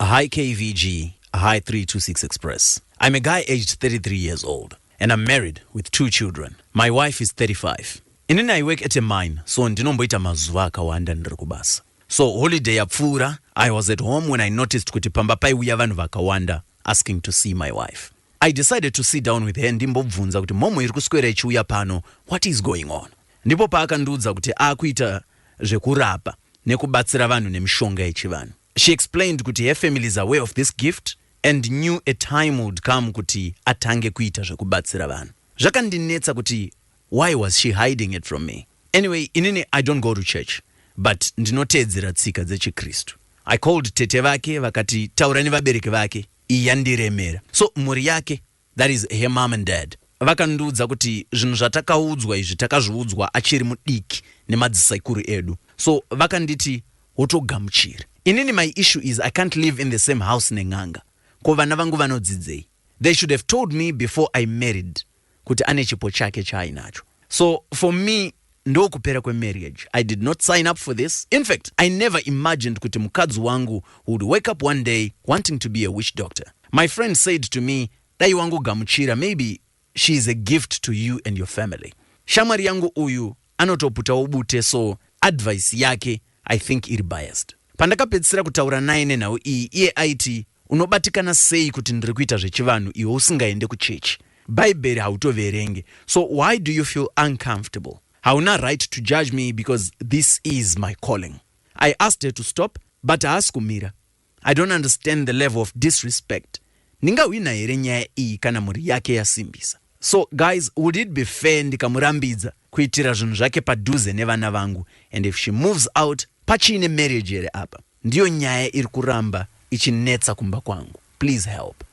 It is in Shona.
Hi KVG, hi 326 Express. I'm a guy aged 33 years old and I'm married with two children. My wife is 35. Inini I work at a mine, so ndinomboita mazuva akawanda ndiri kubasa. So holiday yapfuura, I was at home when I noticed kuti pamba paiuya vanhu vakawanda asking to see my wife. I decided to sit down with her ndimbobvunza kuti mhomho iri kuswera ichiuya pano, what is going on? Ndipo paakandiudza kuti akuita zvekurapa nekubatsira vanhu nemishonga yechivanhu. She explained kuti her family is aware of this gift and knew a time would come kuti atange kuita zvekubatsira vanhu. Zvakandinetsa kuti why was she hiding it from me. Anyway, inini I don't go to church but ndinoteedzera tsika dzechiKristu. I called tete vake vakati taura nevabereki vake, iyi yandiremera. So mhuri yake that is her mom and dad vakandiudza kuti zvinhu zvatakaudzwa izvi takazviudzwa achiri mudiki nemadzisaikuru edu so vakanditi wotogamuchiri inini my issue is i can't live in the same house nen'anga ko vana vangu vanodzidzei they should have told me before i married kuti ane chipo chake chaainacho so for me ndokupera kwemarriage I did not sign up for this infact I never imagined kuti mukadzi wangu would wake up one day wanting to be a witch doctor my friend said to me dai wangogamuchira maybe she is a gift to you and your family shamwari yangu uyu anotoputawo bute so advice yake I think iri biased pandakapedzisira kutaura naye nenhau iyi iye aiti Unobatikana sei kuti ndiri kuita zvechivanhu iwe usingaende kuchechi? Bhaibheri hautoverenge so why do you feel uncomfortable? Hauna right to judge me because this is my calling. I asked her to stop but haasi kumira. I don't understand the level of disrespect. Ndingahwina here nyaya iyi kana mhuri yake yasimbisa? So guys, would it be fair ndikamurambidza kuitira zvinhu zvake padhuze nevana vangu and if she moves out pachiine marriage here apa? Ndiyo nyaya iri kuramba ichinetsa kumba kwangu please help.